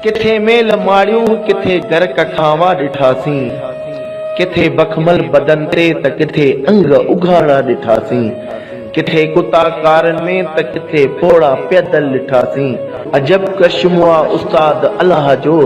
ڪٿي ميل ماڙيون ڪٿي گرڪ کانوا ڏٺاسين، ڪٿي بکمل بدن تي ته ڪٿي انگ اگهاڙا ڏٺاسين، ڪٿي ڪتا ڪارن ۾ ته ڪٿي پوڙها پيدل ڏٺاسين، عجب ڪرشمو آ استاد الله جو،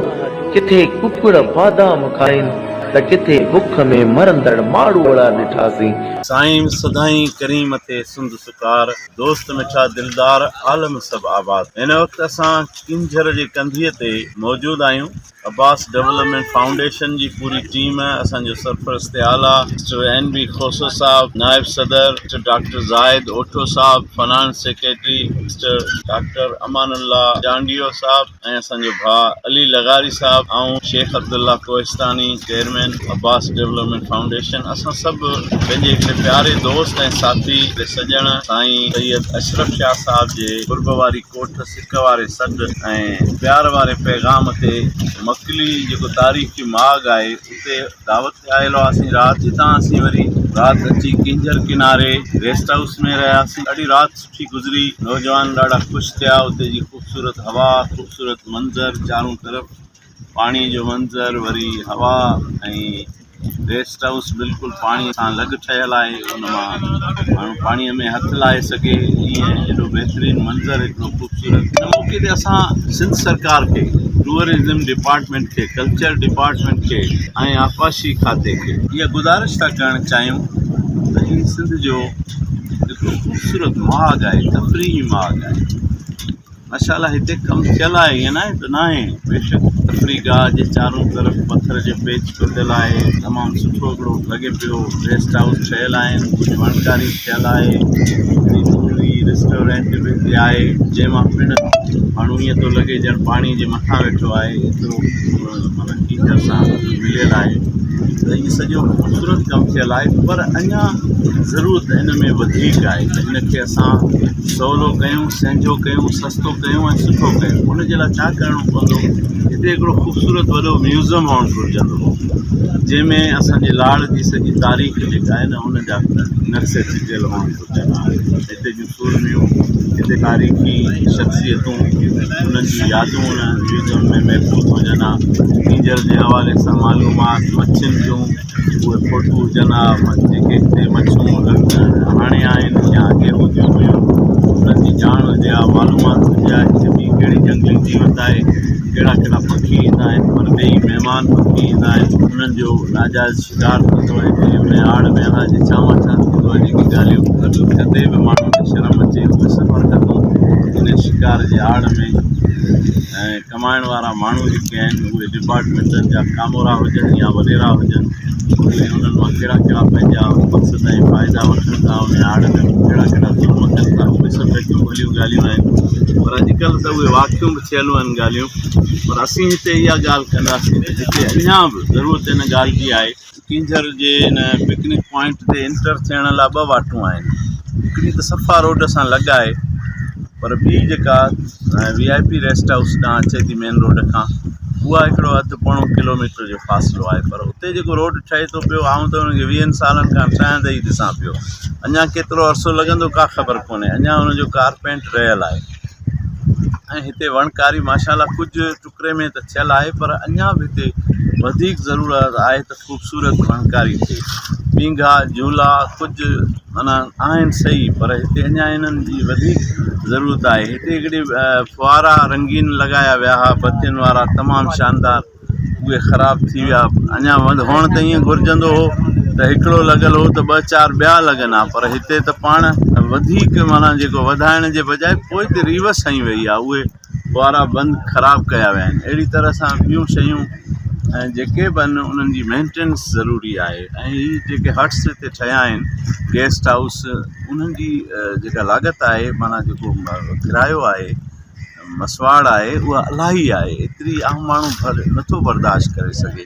ڪٿي ڪڪڙ بادام کائين ته ڪٿي بک ۾ مرندڙ ماڙوئڙا ڏٺاسين. سائين سدائين ڪريم تي سنڌ سڪار دوست مٺا دلدار عالم سڀ آباد هن وقت اسان. ڪينجهر جي ڪنڌيء تي موجود آهيون. عباس ڊولپمينٽ فائونڊيشن جي پوري ٽيم، اسان جو سرپرست اعليٰ mister N B Khoso sahib, نائب صدر مسٽر ڊاڪٽر زاهد اوٺو صاحب، finance secretary mister doctor Amanullah Chandio صاحب ۽ اسان جو ڀاء علي لغاري صاحب، آئون Sheikh Abdullah Kohistani, chairman Abbas development foundation, اسان سڀ پنهنجي هڪڙي پياري دوست ۽ ساٿي، سڄڻ سائين سيد اشرف شاهه صاحب جي قرب واري ڪوٺ، عشق واري سڏ ۽ پيار واري پيغام تي مڪلي جيڪو تاريخي ماڳ آهي اتي دعوت تي آيل هئاسين رات جتان اسين وري رات اچي ڪينجهر ڪناري ريسٽ هائوس ۾ رهياسين ڏاڍي رات سٺي گذري نوجوان ڏاڍا خوش ٿيا اتي جي خوبصورت هوا خوبصورت منظر چارون طرف پاڻي جو منظر وري هوا ۽ ريسٽ هائوس بلڪل پاڻي سان لڳ ٺهيل آهي ان مان ماڻهو پاڻي ۾ هٿ لائي سگهي ائين ايڏو بهترين منظر ايترو خوبصورت ان موقعي تي اسان سنڌ سرڪار کي ٽوئرزم ڊپارٽمينٽ کي ڪلچر ڊپارٽمينٽ کي ۽ آبپاشي کاتي کي اها گذارش ٿا ڪرڻ چاهيون ته هي سنڌ جو هڪ خوبصورت ماڳ آهي تفريحي ماڳ آهي ماشاءالله هتي ڪم ٿيل آهي ائين ناهي ته ناهي بيشڪ تفريح گاهه جي چارون طرف پٿر جو پيچ ٽٽل آهي تمام سٺو هڪڙو لڳي پيو ريسٽ هائوس ٺهيل آهن ڪجهه وڻڪاري به ٺهيل آهي هڪڙي نوري ريسٽورينٽ به هتي آهي جنهن مان پڻ ماڻهو ائين ٿو لڳي ڄڻ پاڻي جي مٿان ويٺو آهي ايترو مانا ڪيچڙ سان مليل آهي ته هي سڄو خوبصورت ڪم ٿيل آهي پر اڃا ضرورت هن ۾ وڌيڪ آهي ته هن کي اسان سولو ڪيون، سهنجو ڪيون، سستو ڪيون ۽ سٺو ڪيون. ان جي لاء ڇا ڪرڻو پوندو؟ هتي هڪڙو خوبصورت وڏو ميوزم هئڻ گهرجندو هو، جنهن ۾ اسان جي لاڙ جي سڄي تاريخ جيڪا آهي نه ان جا نقشا چٽيل هئڻ گهرجن ها. هتي جون سورميون، هتي تاريخي شخصيتون، انهن جون يادون ان ميوزم ۾ محفوظ هجن ها. ڪينجهر جي حوالي سان معلومات، مڇين جون. اهي فوٽو هجن ها جيڪي هتي مڇون لڳندڙ هاڻي آهن يا اڳي هونديون هيون انهن جي ڄاڻ هجي ها معلومات هجي ها هتي ٻي ڪهڙي جهنگلي جيوت آهي ڪهڙا ڪهڙا پکي ايندا آهن پرڏيهي مهمان پکي ايندا آهن انهن جو ناجائز شڪار ٿيندو آهي ڪي ان جي آڙ ۾ اناج جي ڇانوان ڇا ٿيندو آهي جيڪي ڳالهيون ٻڌي ڪندي به ماڻهن کي شرم اچي اهي سڀ حرڪتون ان شڪار جي آڙ ۾ ۽ ڪمائڻ وارا ماڻهو جيڪي آهن اهي ڊپارٽمينٽن جا ڪامورا هجن يا وڏيرا هجن اهي انهن مان ڪهڙا ڪهڙا پنهنجا مقصد ۽ فائدا وٺن ٿا انهي آڙ ۾ ڪهڙا ڪهڙا ظلم ڪن ٿا اهي سڀ هڪ کليون ڳالهيون آهن پر اڄڪلهه ته اهي واقعون به ٿيل آهن ڳالهيون پر اسين هتي اها ڳالهه ڪنداسين ته جتي اڃا به ضرورت ان ڳالهه جي آهي ڪينجهر جي ان پڪنڪ پوائنٽ تي انٽر ٿيڻ لاء ٻه واٽون آهن هڪڙي ته صفا روڊ سان لڳ آهي پر ٻي جيڪا V I P rest house ڏانهن اچي ٿي مين روڊ کان اها هڪڙو اڌ پوڻو ڪلوميٽر جو فاصلو آهي پر اتي جيڪو روڊ ٺهي ٿو پيو آئون ته ان کي ويهن سالن کان ٺهندي ئي ڏسان پيو اڃا ڪيترو عرصو لڳندو ڪا خبر ڪونهي اڃا ان جو ڪارپينٽ رهيل آهي ۽ هتي وڻڪاري ماشاء الله ڪجهه ٽڪري ۾ ته ٿيل آهي پر اڃان به هتي وڌيڪ ضرورت آهي ته خوبصورت ڦنڪاري ٿئي پينگها جهولا ڪجهه معنيٰ آهن سهي پر هتي اڃان انهن جي وڌيڪ ضرورت آهي هتي هڪڙي ڦوهارا رنگين لڳايا ويا هئا بتين وارا تمام شاندار اهي خراب ٿي ويا اڃان هئڻ ته ائين گهرجندو هو ته هڪڙو لڳل هو ته ٻه چار ٻيا لڳن ها پر هتي ته پاڻ وڌيڪ معنيٰ جيڪو وڌائڻ جي بجاء پوئتي ريوس هنئي وئي آهي اهي وارا بند خراب ڪيا ويا آهن اهڙي طرح سان ٻيون شيون ۽ جيڪي به آهن انهن جي مينٽينس ضروري آهي ۽ هي جيڪي هٽس هتي ٺهيا آهن گيسٽ هائوس انهن جي جيڪا لاڳت آهي معنيٰ جيڪو ڪرايو آهي مسواڙ آهي اها الاهي آهي ايتري عام ماڻهو نٿو برداشت ڪري سگهي